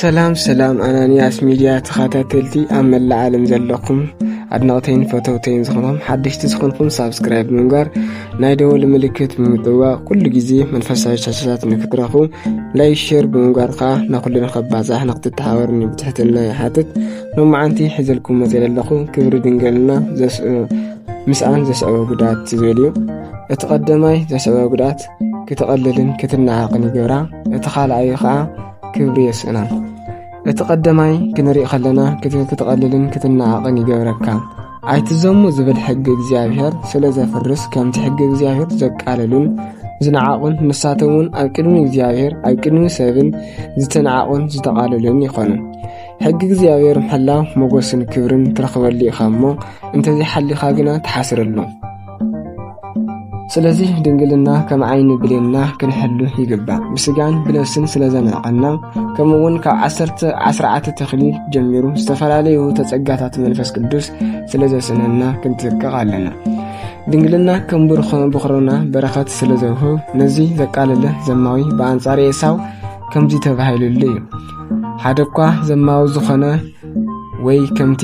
ሰላም ሰላም ኣናንያስ ሚድያ ተኸታተልቲ ኣብ መላእ ዓለም ዘለኹም ኣድናቕተይን ፈተውተይን ዝኾንኹም ሓደሽቲ ዝኾንኩም ሳብስክራይብ ብምግባር ናይ ደወል ምልክት ብምጥዋቕ ኩሉ ግዜ መንፈሳዊ ቻቻታት ንክትረኹ ላይ ሸር ብምግባር ከዓ ናኩሉ ንኸባዛሕ ንክትተሓበርኒ ብትሕትና ይሓትት ሎማዓንቲ ሕዘልኩም መፅእ ዘለኹ ክብሪ ድንገልና ምስኣን ዘስዕበ ጉድኣት ዝብል እዩ እቲ ቀደማይ ዘስዕበ ጉድኣት ክትቐልልን ክትናዓቕን ይገብራ እቲ ካልኣዩ ከዓ ክብሪ የስእና እቲ ቀደማይ ክንሪእ ከለና ክትቐልልን ክትናዓቕን ይገብረካ ኣይትዘሙ ዝብል ሕጊ እግዚኣብሔር ስለ ዘፍርስ ከምቲ ሕጊ እግዚኣብሔር ዘቃለሉን ዝነዓቑን ንሳቶም እውን ኣብ ቅድሚ እግዚኣብሔር ኣብ ቅድሚ ሰብን ዝተነዓቑን ዝተቓለሉን ይኾኑ ሕጊ እግዚኣብሔር ምሕላው ሞገስን ክብርን ትረኽበሉ ኢኻ እሞ እንተዘይሓሊኻ ግና ትሓስረሉ ስለዚ ድንግልና ከም ዓይኒ ብሌንና ክንሕሉ ይግባእ ብስጋን ብነፍስን ስለ ዘንዕቐና ከምኡ እውን ካብ ዓሰርተ ዓስርዓተ ተኽሊ ጀሚሩ ዝተፈላለዩ ተጸጋታት መንፈስ ቅዱስ ስለ ዘስነና ክንትጥቀቕ ኣለና ድንግልና ከም ብርኾ ብኽሮና በረኸት ስለ ዘውህብ ነዚ ዘቃለለ ዘማዊ ብኣንጻር ኤሳው ከምዚ ተባሂሉሉ እዩ ሓደ እኳ ዘማዊ ዝኾነ ወይ ከምቲ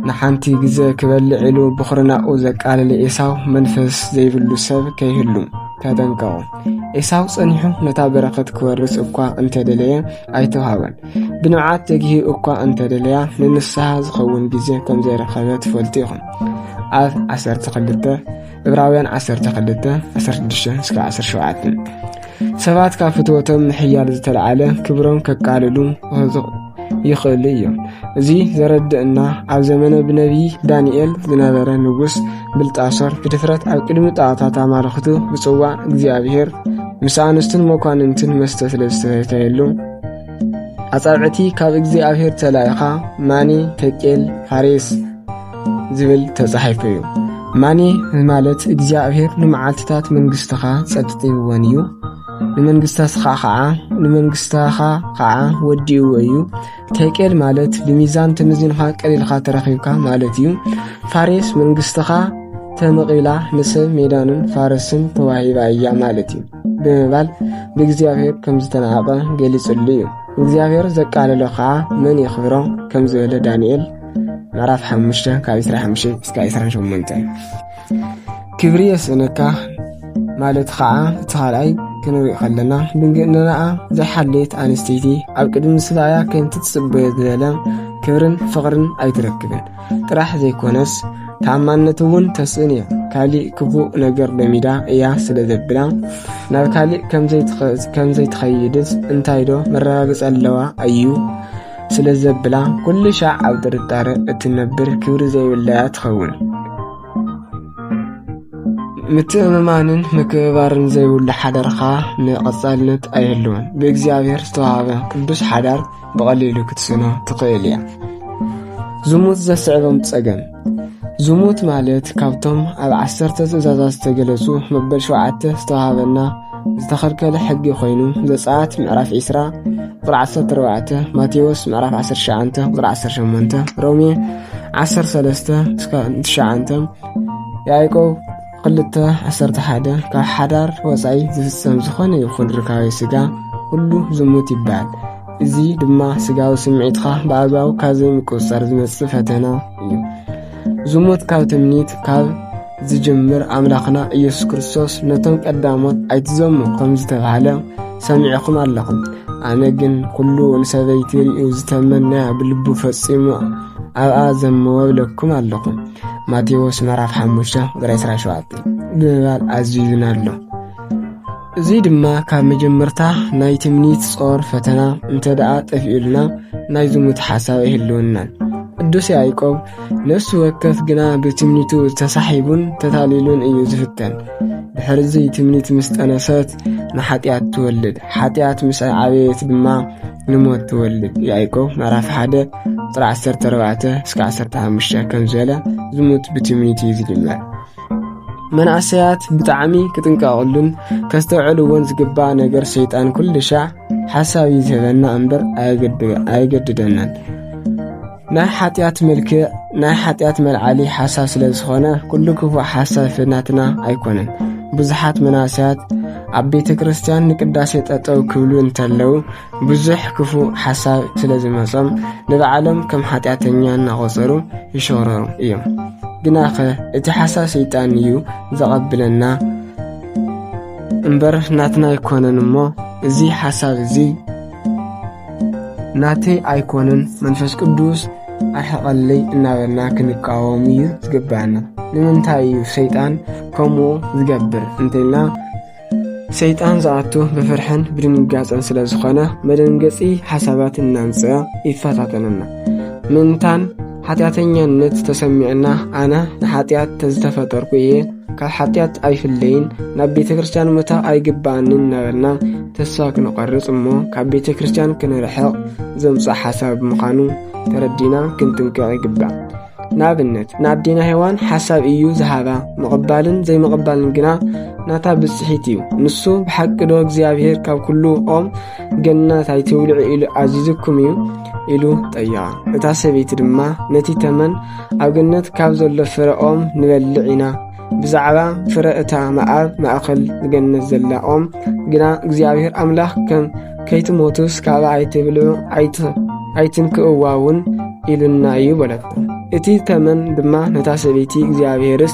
ንሓንቲ ግዘ ክበልዕ ኢሉ ብኹርናኡ ዘቃልል ኤሳው መንፈስ ዘይብሉ ሰብ ከይህሉ ተጠንቀቑ። ኤሳው ጸኒሑ ነታ በረኸት ክወርስ እኳ እንተደለየ ኣይተዋህበን። ብንብዓት ተግሂ እኳ እንተደለያ ንንስሓ ዝኸውን ግዜ ከም ዘይረኸበ ትፈልጡ ኢኹም። ኣብ 12 ዕብራውያን 12:16-17 ሰባት ካብ ፍትወቶም ምሕያል ዝተለዓለ ክብሮም ከቃልሉ ይኽእሉ እዮም። እዚ ዘረድእና ኣብ ዘመነ ብነቢዪ ዳንኤል ዝነበረ ንጉስ ብልጣሶር ብድፍረት ኣብ ቅድሚ ጣዖታት ኣማልኽቱ ብጽዋ እግዚኣብሔር ምስ ኣንስቱን መኳንንትን መስተ ስለ ዝተሰተየሉ ኣጻብዕቲ ካብ እግዚኣብሔር ተላኢኻ ማኒ ተቄል ፋሬስ ዝብል ተጻሒፉ እዩ። ማኔ ማለት እግዚኣብሔር ንመዓልትታት መንግሥትኻ ጸጥጢብወን እዩ ንመንግሥታትኻ ኸዓ ንመንግሥትኻ ኸዓ ወዲእዎ እዩ። ቴቄል ማለት ብሚዛን ተመዚንኻ ቀሊልኻ ተረኺብካ ማለት እዩ። ፋሬስ መንግሥትኻ ተመቒላ ንሰብ ሜዳንን ፋረስን ተዋሂባ እያ ማለት እዩ ብምባል ብእግዚኣብሔር ከም ዝተናዕቐ ገሊጽሉ እዩ። እግዚኣብሔር ዘቃለሎ ኸዓ መን የኽብሮ ከም ዝበለ ዳንኤል ምዕራፍ ሓሙሽተ ካብ ዕስራ ሓሙሽተ እስካ ዕስራን ሸሞንተ ክብሪ የስእነካ ማለት ከዓ እቲ ካልኣይ ክንርኢ ከለና ድንግእንናኣ ዘይሓለየት ኣንስተይቲ ኣብ ቅድሚ ምስላያ ከምቲ ትጽበዮ ዝበለ ክብርን ፍቕርን ኣይትረክብን ጥራሕ ዘይኮነስ ተኣማንነት እውን ተስእን እያ ካሊእ ክፉእ ነገር በሚዳ እያ ስለ ዘብላ ናብ ካሊእ ከምዘይትኸይድስ እንታይ ዶ መረጋግፂ ኣለዋ ኣዩ ስለ ዘብላ ኩሉ ሻዕ ኣብ ጥርጣረ እትነብር ክብሪ ዘይብላያ ትኸውን። ምትእምማንን ምክብባርን ዘይብሉ ሓዳርካ ንቐጻልነት ኣይህልውን። ብእግዚኣብሔር ዝተዋሃበ ቅዱስ ሓዳር ብቐሊሉ ክትስኖ ትኽእል እያ። ዝሙት ዘስዕቦም ጸገም ዝሙት ማለት ካብቶም ኣብ ዓሰርተ ትእዛዛት ዝተገለጹ መበል ሸውዓተ ዝተዋህበና ዝተኸልከለ ሕጊ ኮይኑ ዘጸኣት ምዕራፍ ዒስራ ቁጥሪ ዓሰርተ ኣርባዕተ ማቴዎስ ምዕራፍ ዓሰርተ ትሽዓተ ቁጥሪ ዓሰርተ ሸሞንተ ሮሜ ዓሰርተ ሰለስተ እስካብ ትሽዓተ ያዕቆብ ክልተ ዓሰርተ ሓደ ካብ ሓዳር ወፃኢ ዝፍፀም ዝኾነ ይኹን ርካቤ ስጋ ኩሉ ዝሙት ይበሃል። እዚ ድማ ስጋዊ ስምዒትካ ብኣግባቡ ካብ ዘይምቁፅፃር ዝመፅእ ፈተና እዩ። ዝሙት ካብ ትምኒት ካብ ዝጅምር ኣምላኽና ኢየሱስ ክርስቶስ ነቶም ቀዳሞት ኣይትዘሙ ከም ዝተባህለ ሰሚዕኹም ኣለኹም። ኣነ ግን ኩሉ ንሰበይቲ ርእዩ ዝተመንያ ብልቡ ፈጺሙ ኣብኣ ዘመወ ብለኩም ኣለኹም። ማቴዎስ ምዕራፍ ሓሙሽተ ቁጥሪ 27 ብምባል ኣዚዙና ኣሎ እዚ ድማ ካብ መጀመርታ ናይ ትምኒት ጾር ፈተና እንተ ደኣ ጠፊኡልና ናይ ዝሙት ሓሳብ ኣይህልውናን ቅዱስ ያዕቆብ ነፍሲ ወከፍ ግና ብትምኒቱ ተሳሒቡን ተታሊሉን እዩ ዝፍተን ድሕርዚ ትምኒት ምስ ጠነሰት ንሓጢኣት ትወልድ ሓጢኣት ምስ ዓበየት ድማ ንሞት ትወልድ ያዕቆብ ምዕራፍ 1 ቁጥሪ 14 እስከ 15 ከም ዝበለ ዝሙት ብትምኒት እዩ ዝጅመር መናእሰያት ብጣዕሚ ክጥንቀቕሉን ከስተውዕልዎን ዝግባ ነገር ሰይጣን ኩልሻ ሓሳብ እዩ ዝህበና እምበር ኣየገድደናን ናይ ሓጢኣት ምልክዕ ናይ ሓጢኣት መልዓሊ ሓሳብ ስለ ዝኾነ ኩሉ ክፉእ ሓሳብ ፍናትና ኣይኮነን ብዙሓት መናስያት ኣብ ቤተ ክርስትያን ንቅዳሴ ጠጠው ክብሉ እንተለዉ ብዙሕ ክፉእ ሓሳብ ስለ ዝመጾም ንባዕሎም ከም ሓጢኣተኛ እናቖጸሩ ይሸረሩ እዮም ግናኸ እቲ ሓሳብ ሰይጣን እዩ ዘቐብለና እምበር ናትና ኣይኮነን እሞ እዚ ሓሳብ እዚ ናተይ ኣይኮንን መንፈስ ቅዱስ ኣርሕቐለይ እናበልና ክንቃወም እዩ ዝግብኣና ንምንታይ እዩ ሰይጣን ከምኡ ዝገብር እንተልና ሰይጣን ዝኣቱ ብፍርሕን ብድንጋፀን ስለ ዝኾነ መደንገፂ ሓሳባት እናምፅኣ ይፈታተነና ምእንታን ሓጢኣተኛነት ተሰሚዕና ኣነ ንሓጢኣት ተዝተፈጠርኩ እየ ካብ ሓጢኣት ኣይፍለይን ናብ ቤተ ክርስትያን መታ ኣይግባኣንን እናበልና ተስፋ ክንቐርጽ እሞ ካብ ቤተ ክርስትያን ክንርሕቕ ዘምጽእ ሓሳብ ምዃኑ ተረዲና ክንጥንቀቕ ይግባእ ንኣብነት ንኣዴና ሄዋን ሓሳብ እዩ ዝሃባ ምቕባልን ዘይምቕባልን ግና ናታ ብጽሒት እዩ ንሱ ብሓቂ ዶ እግዚኣብሔር ካብ ኩሉ ኦም ገናት ኣይትውልዑ ኢሉ ኣዚዙኩም እዩ ኢሉ ጠየቐ እታ ሰበይቲ ድማ ነቲ ተመን ኣብ ገነት ካብ ዘሎ ፍረ ኦም ንበልዕ ኢና ብዛዕባ ፍረ እታ መኣብ ማእኸል ገነት ዘላ ኦም ግና እግዚኣብሔር ኣምላኽ ከም ከይትሞቱስ ካብ ኣይትብልዑ ኣይትንክእዋ እውን ኢሉና እዩ በለት እቲ ተመን ድማ ነታ ሰበይቲ እግዚኣብሔርስ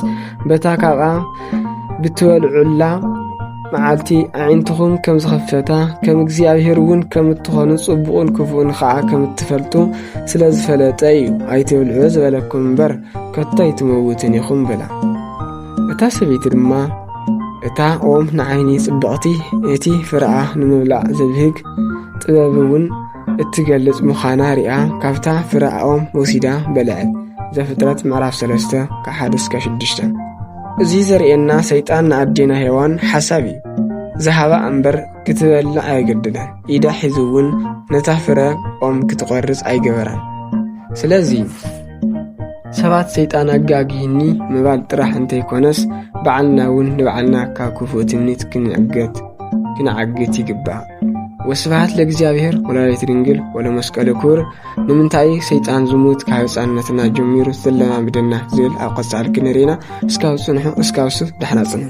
በታ ካብኣ ብትበልዑላ መዓልቲ ኣዒንትኹም ከም ዝኸፈታ ከም እግዚኣብሔር እውን ከም እትኾኑ ጽቡቕን ክፉእን ኸዓ ከም እትፈልጡ ስለ ዝፈለጠ እዩ ኣይትብልዑ ዝበለኩም እምበር ከቶ ኣይትመውትን ኢኹም በላ እታ ሰበይቲ ድማ እታ ኦም ንዓይኒ ጽብቕቲ እቲ ፍረኣ ንምብላዕ ዘብህግ ጥበብ እውን እትገልጽ ምዃና ርኣ ካብታ ፍረኣ ኦም ወሲዳ በልዐ ዘፍጥረት ምዕራፍ 3 ከ1 እስከ 6 እዚ ዘርእየና ሰይጣን ንኣዴና ሄዋን ሓሳብ እዩ ዝሃባ እምበር ክትበልዕ ኣየገድዳን ኢዳ ሒዙ እውን ነታ ፍረ ኦም ክትቖርጽ ኣይገበራን ስለዚ ሰባት ሰይጣን ኣጋግሂኒ ምባል ጥራሕ እንተይኮነስ በዓልና እውን ንበዓልና ካብ ክፉእ ትምኒት ክንዕገት ክንዓግት ይግባእ ወስብሃት ለእግዚኣብሔር ወላዲት ድንግል ወለመስቀሉ ክቡር። ንምንታይ ሰይጣን ዝሙት ካብ ህፃንነትና ጀሚሩ ዝለማምደና ዝብል ኣብ ቀፃሊ ክንርኢና እስካብ ፅንሑ እስካብ ሱፍ ዳሕና ፅንሑ